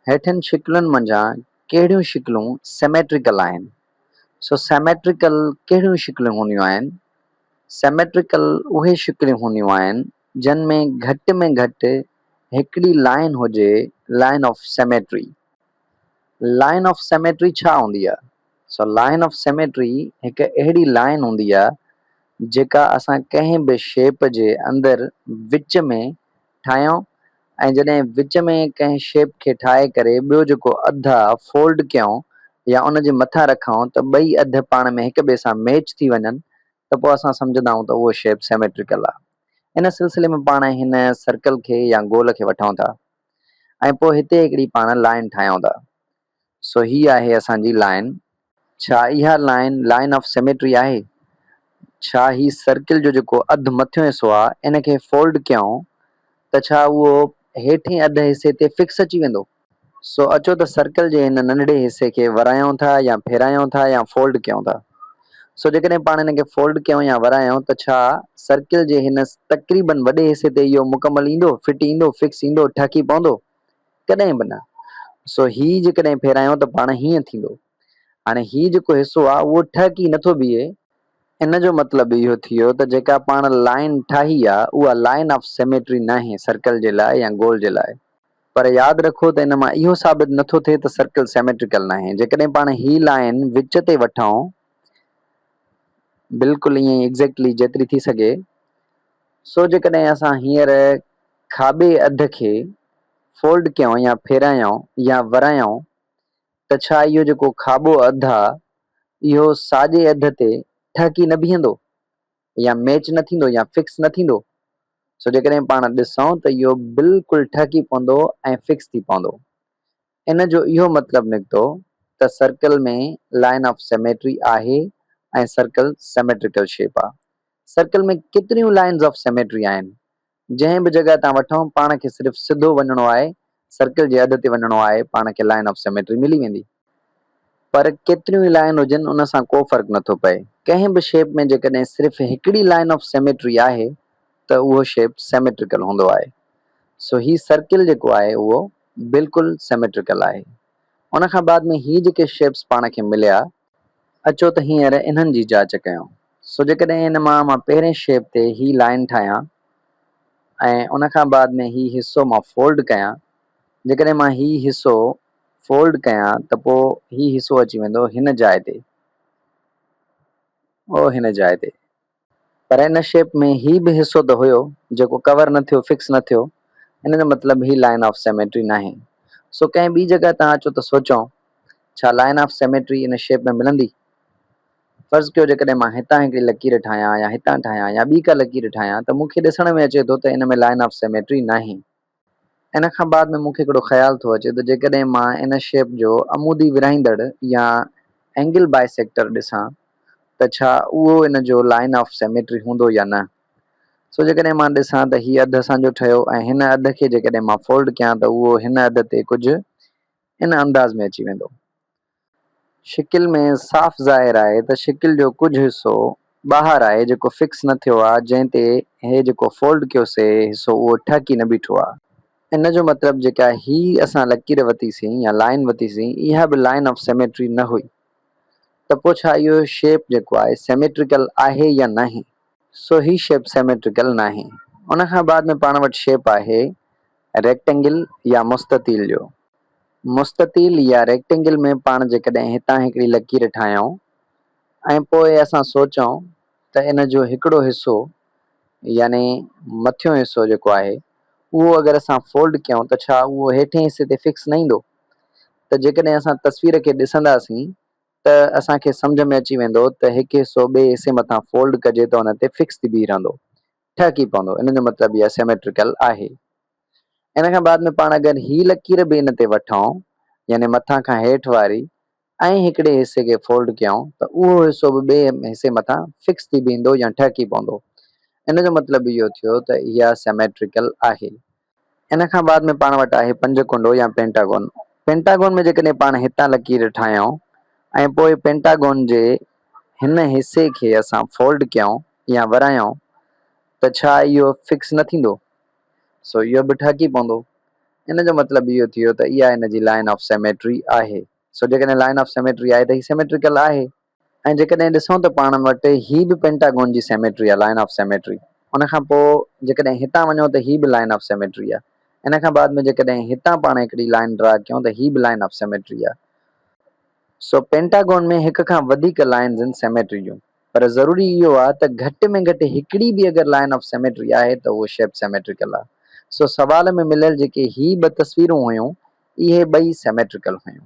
هيٺين شڪلن منجهان ڪهڙيون شڪلون سيميٽريڪل آهن؟ سو سيميٽريڪل ڪهڙيون شڪلون هونديون آهن؟ سيميٽريڪل اهي شڪلون هونديون آهن جن ۾ گهٽ ۾ گهٽ هڪڙي لائين هجي line of symmetry. Line of symmetry ڇا هوندي آهي؟ سو لائين آف سيميٽري هڪ اهڙي لائين هوندي آهي جيڪا اسان ڪنهن به شيپ جي اندر وچ ۾ ٺاهيائون ۽ جڏهن وچ ۾ ڪنهن شيپ کي ٺاهي ڪري ٻيو جيڪو اڌ آ فولڊ ڪيائون يا ان جي مٿان رکائون ته ٻئي اڌ پاڻ ۾ هڪ ٻئي سان ميچ ٿي وڃن ته پوء اسان سمجهندا آهيون ته اهو شيپ سيميٽريڪل آ. ان سلسلي ۾ پاڻ هن سرڪل کي يا گول کي وٺائون ٿا ۽ پوء هتي هڪڙي پاڻ لائين ٺاهيائون ٿا. سو هي آهي اسان جي لائن. ڇا اها لائن لائن آف سيميٽري آهي؟ ڇا هي سرڪل جو جيڪو اڌ مٿيون حصو آ ان کي فولڊ ڪيائون ته ڇا اهو هيٺين اڌ حصي تي فڪس اچي ويندو؟ سو اچو ته سرڪل جي هن ننڍڙي حصي کي ورايائون ٿا يا ڦيرايائون ٿا يا فولڊ ڪيائون ٿا. سو جيڪڏهن پاڻ ان کي فولڊ ڪيائون يا ورايائون ته ڇا سرڪل جي هن تقريبن وڏي حصي تي اهو مڪمل ايندو، فٽ ايندو، فڪس ايندو، ٺهڪي پوندو؟ ڪڏهن به نه. سو هي جيڪڏهن ڦيرايون ته پاڻ هيئن ٿيندو. هاڻي هي جيڪو حصو آ اهو ٺهڪي نه ٿو بيهي. ان جو مطلب اهو ٿيو ته جيڪا پاڻ لائين ٺاهي آ اها لائين آف سيميٽري ناهي سرڪل جي لاء يا گول جي لاء. پر ياد رکو ته ان مان اهو ثابت نه ٿو ٿئي ته سرڪل سيميٽريڪل ناهي. جيڪڏهن پاڻ هي لائين وچ تي وٺون بلڪل ائين ئي Exactly جيتري ٿي سگهي. سو جيڪڏهن اسان هينئر کاٻي اڌ کي فولڊ ڪيائون يا ڦيرايائون يا ورايائون ته ڇا اهو جيڪو کاٻو اڌ آ اهو ساڄي اڌ تي ٺهڪي نه بيهندو يا ميچ نه ٿيندو يا فڪس نه ٿيندو؟ سو جيڪڏهن پاڻ ڏسون ته اهو بلڪل ٺهڪي پوندو ۽ فڪس ٿي پوندو. ان جو اهو مطلب نڪتو ته سرڪل ۾ لائن آف سيميٽري آهي ۽ سرڪل سيميٽريڪل شيپ آ. سرڪل ۾ ڪيتريون لائنز آف سيميٽري آهن. جنهن به جڳهه تان وٺون پاڻ کي صرف سڌو وڃڻو آهي، سرڪل جي اڌ تي وڃڻو آهي پاڻ کي لائن آف سيميٽري ملي ويندي. پر ڪيتريون ئي لائن هجن ان سان ڪو فرق نٿو پئي. ڪنهن به شيپ ۾ جيڪڏهن صرف هڪڙي لائن آف سيميٽري آهي ته اهو شيپ سيميٽريڪل هوندو آهي. سو هي سرڪل جيڪو آهي اهو بلڪل سيميٽريڪل آهي. ان کان بعد ۾ هي جيڪي شيپس پاڻ کي مليا، اچو ته هينئر انهن جي جاچ ڪيون. سو جيڪڏهن ان مان مان پهرين شيپ تي هي لائن ٺاهيان ۽ ان کان بعد ۾ هي حصو مان فولڊ ڪيان، جيڪڏهن مان هي حصو فولڊ ڪيان ته پوء هي حصو اچي ويندو هن جاء تي. او هن جاء تي. پر ان شيپ ۾ هي به حصو ته هيو جيڪو ڪور نه ٿيو، فڪس نه ٿيو، ان جو مطلب هي لائن آف سيميٽري ناهي. سو ڪنهن ٻي جڳهه تان اچو ته سوچون ڇا لائن آف سيميٽري ان شيپ ۾ ملندي؟ فرض ڪيو جيڪڏهن مان هتان هڪڙي لڪير ٺاهيان يا هتان ٺاهيان يا ٻي ڪا لڪير ٺاهيان ته مون کي ڏسڻ ۾ اچي ٿو ته ان ۾ لائن آف سيميٽري ناهي. ان کان بعد ۾ مون کي هڪڙو خيال ٿو اچي ته جيڪڏهن مان ان شيپ جو عمودي ورهائيندڙ يا اينگل بائيسيڪٽر ڏسان ته ڇا اهو ان جو لائن آف سيميٽري هوندو يا نه؟ سو جيڪڏهن مان ڏسان ته هي اڌ اسان جو ٺهيو ۽ هن اڌ کي جيڪڏهن مان فولڊ ڪيان ته اهو هن اڌ تي ڪجهه ان انداز ۾ اچي ويندو. شڪل ۾ صاف ظاهر آهي ته شڪل جو ڪجهه حصو ٻاهر آهي جيڪو فڪس نه ٿيو آهي جنهن تي هي جيڪو فولڊ ڪيو سي حصو اهو ٺهڪي نه بيٺو آهي. ان جو مطلب جيڪا هي اسان لڪير وتي سين يا لائين وتي سين اها به لائين آف سيميٽري نه هئي ته پوء ڇا اهو شيپ جيڪو آهي سيميٽريڪل آهي يا ناهي؟ سو هي شيپ سيميٽريڪل ناهي. ان کان بعد ۾ پاڻ وٽ شيپ آهي ريڪٽينگل يا مستطيل جو. مستطيل يا ريڪٽينگل ۾ پاڻ جيڪڏهن هتان هڪڙي لڪير ٺاهيائون ۽ پوء اسان سوچيائون ته ان جو هڪڙو حصو يعني مٿيون حصو جيڪو آهي اهو اگر اسان فولڊ ڪيائون ته ڇا اهو هيٺين حصي تي فڪس نه ايندو؟ ته جيڪڏهن اسان تصوير کي ڏسنداسين ته اسان کي سمجهه ۾ اچي ويندو ته هڪ حصو ٻئي حصي مٿان فولڊ ڪجي ته ان تي فڪس ٿي بيهي رهندو، ٺهڪي پوندو، ان جو مطلب اها سيميٽريڪل آهي. ان کان بعد ۾ پاڻ اگر هي لڪير به ان تي وٺون يعني مٿان کان هيٺ واري ۽ هڪڙي حصي کي فولڊ ڪيائون ته اهو حصو به ٻئي حصي مٿان فڪس ٿي بيهندو يا ٺهڪي پوندو. ان جو مطلب اهو ٿيو ته اها سيميٽريڪل آهي. ان کان بعد ۾ پاڻ وٽ آهي پنج ڪنڊو يا پينٽاگون. پينٽاگون ۾ جيڪڏهن پاڻ هتان لڪير ٺاهيون ۽ پوء پينٽاگون جي هن حصي کي اسان فولڊ ڪيائون يا ورايائون ته ڇا اهو فڪس نه ٿيندو؟ سو اهو به ٺهڪي پوندو. ان جو مطلب اهو ٿيو ته اها ان جي لائن آف سيميٽري آهي. سو جيڪڏهن لائن آف سيميٽري آهي ته هي سيميٽريڪل آهي. ۽ جيڪڏهن ڏسون ته پاڻ وٽ هي به پينٽاگون جي سيميٽري آهي، لائن آف سيميٽري. ان کان پوء جيڪڏهن هتان وڃون ته هي به لائن آف سيميٽري آهي. ان کان بعد ۾ جيڪڏهن هتان پاڻ هڪڙي لائن ڊرا ڪيون ته هي به لائن آف سيميٽري آهي. سو پينٽاگون ۾ هڪ کان وڌيڪ لائنز ان سيميٽري جون. پر ضروري اهو آهي ته گهٽ ۾ گهٽ هڪڙي به اگر لائن آف سيميٽري آهي ته اهو شيپ سيميٽريڪل آهي. سو سوال ۾ مليل جيڪي هي ٻه تصويرون هيون اهي ٻئي سيميٽريڪل هيون.